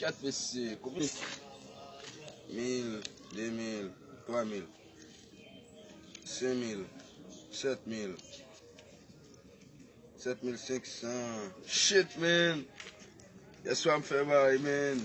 Kat pis se konbyen? Mil, de mil, twa mil, sen mil, sèt mil, sèt mil senk san. Shit man! Yèswa m fè baay man!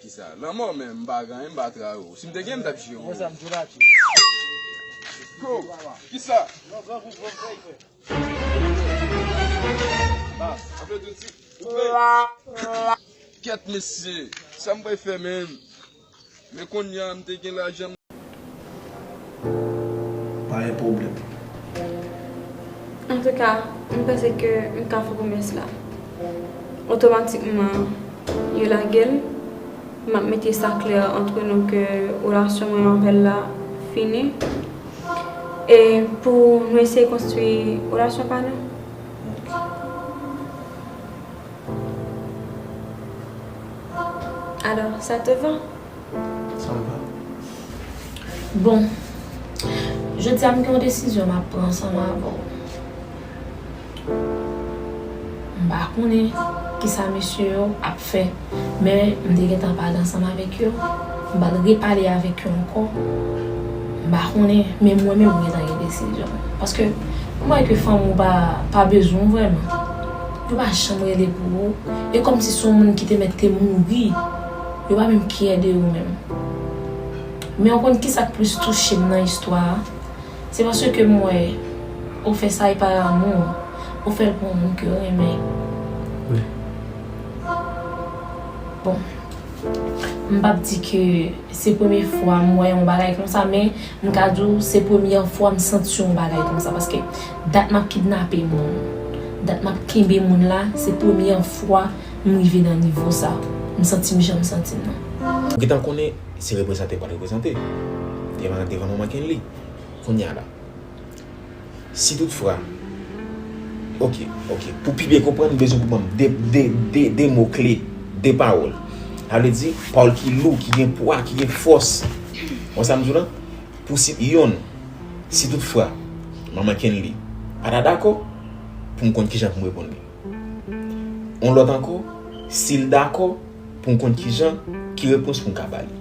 Kisa? Lanmò menm m pa ganyen m pa tray ou. Si m te gen m tap jere ou. Bro, kisa? Kèt mesye, sa m pral fè menm? Men konnya m te gen lajan m. Pa gen pwoblèm. Antouka, m panse ke m ka fè pwomès la. Otomatikman, yo lage l. M ap mete sa klè antre nou ke relasyon mwen avè l la fini. E pou nou eseye konstwi relasyon pa nou. Alors, ça te va? Sa m va. Bon, jodi a m gen yon desizyon m ap pran ansanm avè w. M pa konnen ki sa mesye yo ap fè, men m te gentan pale ansanm avèk yo, m pral repale avèk yo ankò. M pa konnen, men mwen menm m gentan gen desizyon m. Paske, m wè ke fanm ou pa bezwen w vrèman. Yo pa janm rele pou ou, e kòmsi se yon moun ki te mèt te mouri, yo pa menm kè de ou menm. Men ou konn kisa k plis touche m nan istwa a? Se paske m wè ou fè sa e par amour, ou fè l pou yon moun ke w renmen. Bon, m pap di ke se premye fwa m wè yon bagay konsa men m ka di w se premyè fwa m santi yon bagay konsa paske Dat map kidnape moun, dat map kenbe moun la se premyè fwa m rive nan nivo sa, m santi m jan m santi m nan. Ou gentan konnen se reprezante ou pat reprezante devan devan manman Kenly kounya la si tout fra ok ok pou pi byen konprann m bezwen pou banm de de de de mo kle de pawòl sa vle di pawòl ki lou ki gen pwa ki gen fòs ou wè sa m di w la Pou si yon, si tout fwa, Manman Kenly pa ta dakò, pou m konn kijan pou m reponn li. Yon lòt ankò, si l dakò, pou m konn kijan, ki repons pou m ka ba li.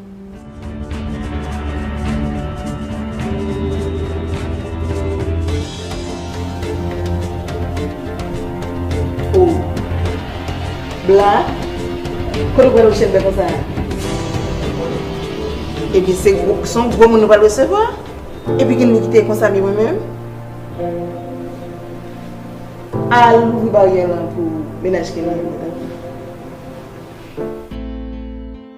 Ooh Bla Kote ou pral wè chèn bè konsa a? Ebyen se gwo se yon gwo moun nou pral resevwa Epi ki moun ki te konsa mi mwen menm? Al ouvri baryè lan pou menaj Kenny an tanpri.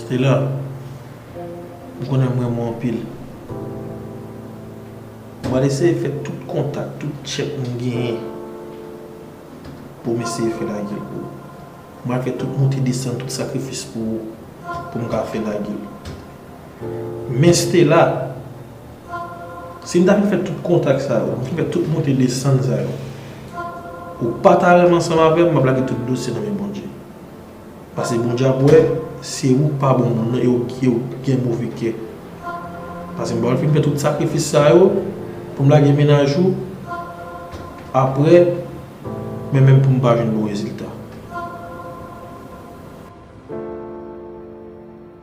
Stella ou konnen m renmen w anpil m pral eseye fè tout kontak tout tchèk m genyen pou m eseye fè lagel pou ou m pral fè tout monte desann tout sakrifis pou ou pou m ka fè lagel. Men Stella, si m ta fin fè tout kontak sa yo, m fin fè tout monte desann sa yo, ou pa ta renmen ansanm avè m, m ap lage tout dosye nan men Bondye. Pase Bondye ap wè, se ou k pa bon moun nan e ou k gen move kè. Pase m pa vle fin fè tout sakrifis sa yo pou m lage mennaj ou, aprè, men menm pou m pa jwenn bon rezilta.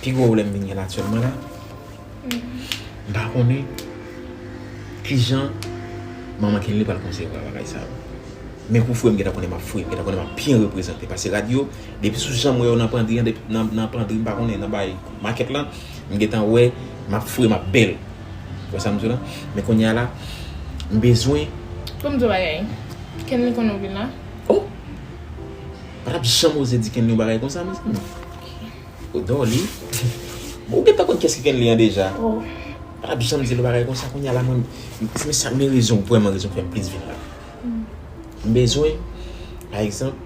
Pi gwo pwoblèm m vin gen aktyèlman la, m pa konnen ki jan manman Kenley pral konsevwa bagay sa yo. Men pou frè m gentan konnen m ap fre, m gentan konnen m ap byen reprezante. Pase rad yo, depi sou jan m wè yo nan pandri an, nan pandri m pa konnen, nan bagay makèt lan, m gentan wè m ap fre, m ap bèl. Ou wè sa m di w la? Men kounye a la, m bezwen. Pou m di w bagay, Kenley konnen w vin la? O! Patap janm oze di kenly yon bagay konsa mezanmi ou dòli ou gentan konn kiyès ki kenly an deja patap janm dil yon bagay konsa kounya la mwen men sa men rezon vrèman rezon fèm plis vin la m bezwen pa egzanp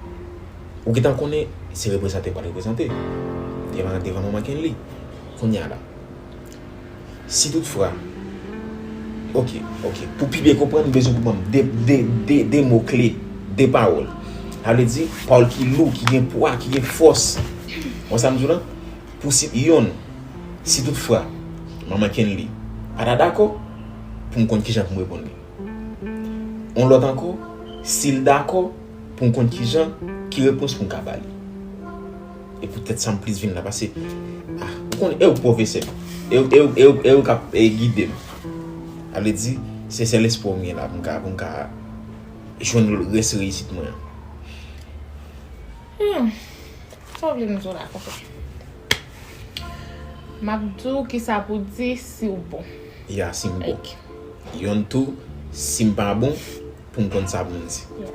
ou gentan konnen se reprezante wap reprezante devan devan manman kenly kounya la. Si tout fra. Ok, ok. Pou pi byen konprann, m bezwen pou banm de, de, de, de mo kle. De pawòl. Sa vle di, pawòl ki lou, ki gen pwa, ki gen fòs. Wè sa m di w la? Pou si, yon. Si tout fra. Manman Kenly. Pa ta dakò. Pou m konn kijan pou m reponn li. Yon lòt ankò. Si l dakò. Pou m konn kijan. Ki repons pou m ka ba li. E pou tèt sam plis vin la pase ah ou konn ew pwofesè ew kap gidem sa vle di se sèl espwa mwen gen la poum ka poum ka jwenn rès reyisit mwen an. Humm sa w vle m di w la konpè map di w kisa pou di siw bon ya sim bon yonn tou sim pa bon poum konn sa poum di ya.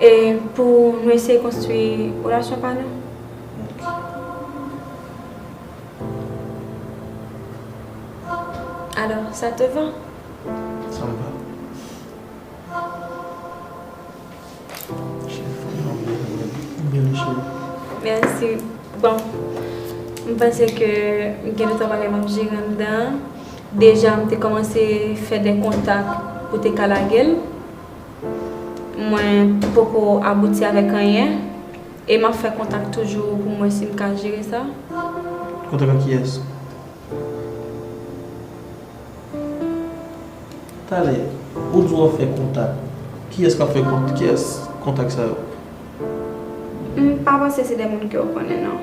E pou nou eseye konstwi relasyon pa nou? Alò, sa te va? Sa m va. Byen jwe. Mèsi. Bon, m panse ke m gen 2, 3 bagay m ap jere anndan an. Deja m te kòmanse fè de kontak pou te ka lage l. Mwen poko abouti avèk anyen. E map fè kontak toujou pou mwen sim ka jere sa. Kontak ak kiyès? Talè ou di wap fè kontak. Kiyès kap fè kontak sa yo? M pa panse se de moun ke ou konnen non.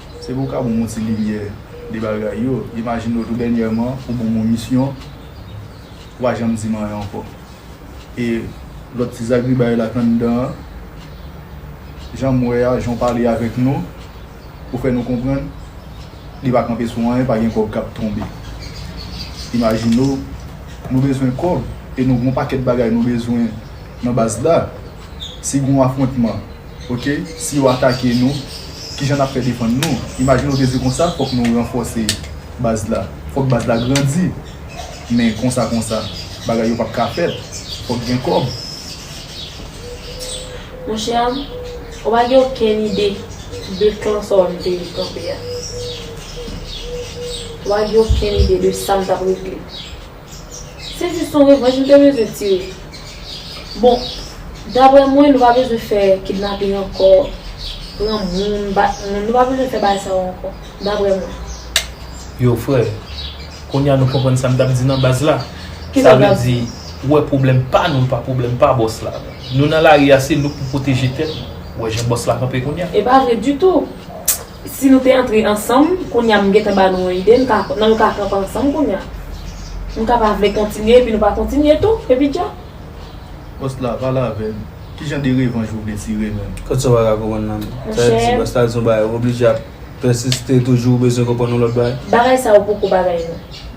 Se pou w ka ban m yon ti limyè de bagay yo. Imajine w tou dènyèman ou ban m yon misyon, ou pa janm di m anyen ankò. E lòt ti zagribay la k anndan an, jan m wè a, jan w pale avèk nou, ou fè nou konprann li pa kanpe sou anyen, pa gen kòb k ap tonbe. Imajine w nou bezwen kòb e nou gen yon pakèt bagay nou bezwen nan baz la. Si gen yon afwontman. Ok, si yo atake nou, kijan n ap fè defann nou? Imajine w te di konsa, fòk nou ranfòse baz la, fòk baz la grandi. Men konsa konsa, bagay yo p ap ka fèt. Fòk gen kòb. Monchè, ou pa gen okenn ide de kan sa w ap mete kanpe a? Ou pa gen okenn ide de sa m t ap regle? Se jis yon revanj nou te bezwen tire. Bon, daprè mwen nou pa bezwen fè kidnaping ankò, pran moun, bat moun, nou pa bezwen fè bagay sa yo ankò, daprè mwen. Yo frè, kounye a nou konprann sa m t ap di nan baz la. Sa vle di, ou wè pwoblèm pa nou l pa pwoblèm pa bòs la. Nou nan lari a se nou k pou pwoteje tèt nou. Ou wè jan bòs la kanpe kounye a. E pa vre ditou! Si nou te antre ansanm kounya m gentan ba nou yon ide n ka nan nou ka kanpe ansanm kounya nou ka pa vle kontinye epi nou pa kontinye tou epi tcha. Boss la pale avem kijan de revanj ou vle tire menm. Kot sa ou paka konprann la menm. Sa vle di boss la di yon bagay ou oblije ap pèsiste toujou ou bezwen konprann yon lòt bagay. Bagay sa ou poko bagay non.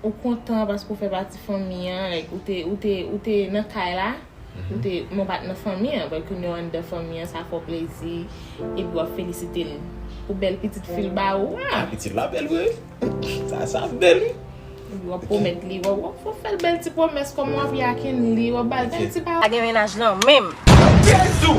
Ou kontan paske ou fè pati fanmi an, like ou te, ou te, ou te nan kay la, ou te, men w pa t nan fanmi an, but kounye a w anndan fanmi an, sa fè w plezi, epi w ap felisite l pou bèl pitit fi l ba ou a. Ah pitit la bèl vre wi. Sa, sa bèl wi. Epi w ap pwomèt li, w ap, w ap fè, fè l bèl ti pwomès kòman w ap yakin li, w ap ba l bèl ti pa. Pa gen mennaj lan menm. Jezu!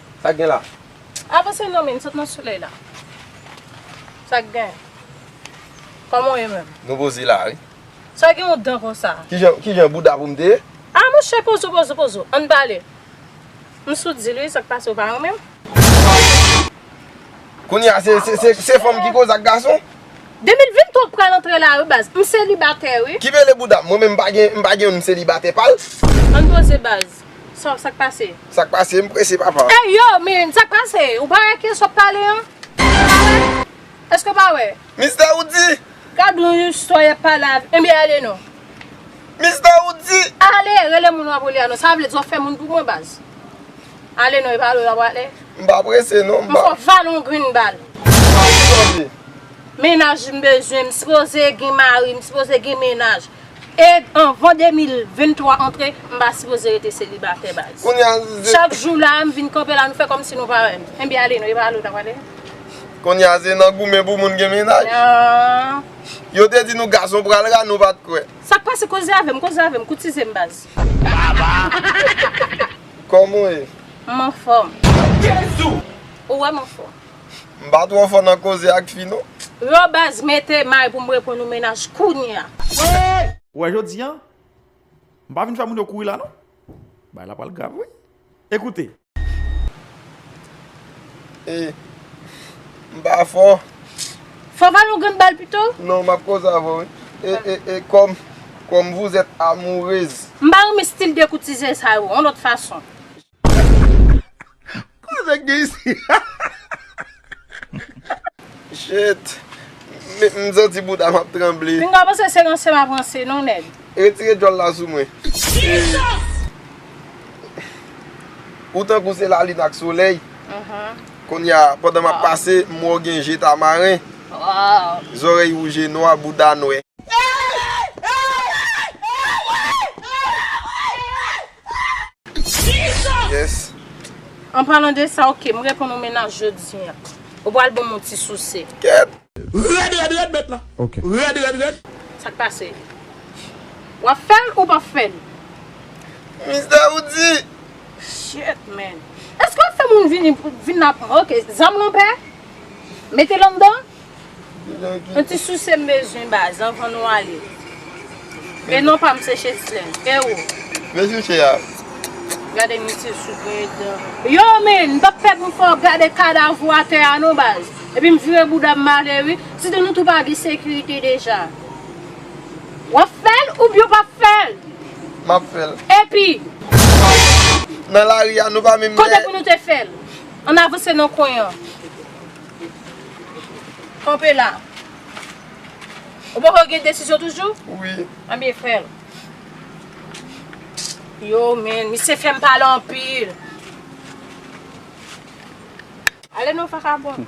Sak gen la? Avanse non men, sot nan solèy la. Sak gen? Koman w ye menm? Nou poze la wi. Sa gen yon dan konsa? Kijan bouda pou m te ye? Ah monchè pozo pozo pozo, ann pale. M sou dil wi, sak pase ou pa renmen m? Kounya se fanm ki koz ak gason? 2023 k pral antre la wi baz, m selibatè wi. Ki mele bouda m, mwen menm m pa gen yon m selibatè pal. Ann poze baz. Sòf sak pase? Sak pase m prese papa. Ey yo min sak pase? Ou pa wè kiyès wap pale an? Eske pa wè? Eske pa wè? Mistè Roody! Gad yon istwa yap pale avm enben ale non. Mistè Roody! Ale rele moun wap rele a non sa vle di wap fè moun pou mwen baz? Ale non epa ale wap ale? M pa prese non m pa. M fò valon grenn bal. Sa ou sòti? Mennaj m bezwen, m sipoze gen mari, m sipoze gen mennaj. E anvan 2023 antre, m pa sipoze rete selibatè baz. Chak jou la a, m vin kanpe la nou fè kòmsi nou pa wè m. Enbyen ale nou, e pa ale w ta prale? Kounye a se nan goumen pou moun gen mennaj. Yo te di nou gason pral ra, nou pa t kwè. Sa k pase? Koze avè m, koze avè m, koutize m baz. Kòman w ye? M anfòm. Ou wè m anfòm? M pa tro fò nan koze ak fi non. Yo baz mete may pou m reponn ou menaj kounya. Ou wè jodi an M pa vin fè moun yo kouri la non Bagay la pral grav wi Ekoute. E M pa fò. Fò va yon grenn bal pito. Non map koze avèw wi. E e e Kòm Kòm vous êtes amoureuse. M pa renmen stil dekoutize sa yo on lòt fason. Koze gen isi Shit M santi boudam ap tranble. M ta panse se ranse map ranse non nèg. Retire djòl la sou mwen. Ou tankou se lalin ak solèy. Kounye a pandan map pase m wè w gen je tamaren. Zòrèy wouje nwa bouda nwè. Yes. An palan de sa ok, m reponn ou menaj jodi an. Ou pral banm yon ti souse. Kèt. Rèd rèd rèd bèt lan. Ok. Rèd rèd rèd. Sak pase? Wap fèl ou pap fèl? Mister ou di. Shit man. Eske wap fè moun vini vin nan ok zanm lan pè? Mete l anndan? Yon ti souse m bezwen baz anvan nou ale. E non pa m se Cheslèn. E ou? Mwen souche a. Gade misye sou pwen dan. Yo men, m pap pèdi m fè w gade kadav ou atè a non baz. Epi m vire bouda m m ale wi. Sitou nou tou pa gen sekirite deja. W ap fè l oubyen w p ap fè l? M ap fè l. Epi? Nan lari a nou pa menm lè. Kote pou nou te fè l? Ann avanse nan kwen an. Kanpe la. Ou poko gen desizyon toujou? Wi. Anbyen fè l. Yo men, misye fè m pale anpil. Ale non vakabon.